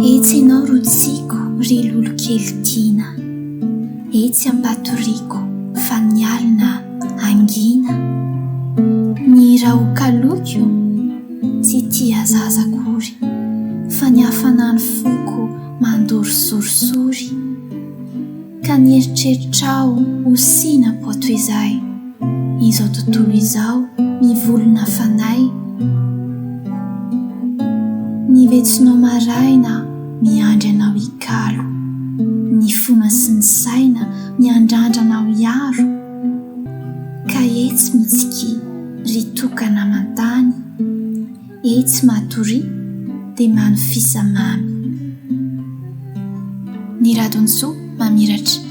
Etsy ianao rotsiako ry lolokely tiana, etsy ampatoriako fa ny alina hangina. Ny rahokaloiko tsy tia zaza akory fa ny hafanan'ny foko mandoro sorisory. Ka ny eritreritrao ho sina poa toy izay izao tontolo izao mivolona fanahy Ny vetsinao maraina miandry anao hikalo Ny fona sy ny saina miandrandra anao hiaro Ka etsy mitsikia ry tokana aman-tany Etsy Matoria dia mamy fisa mamy. Ny Radonsoa mamiratra.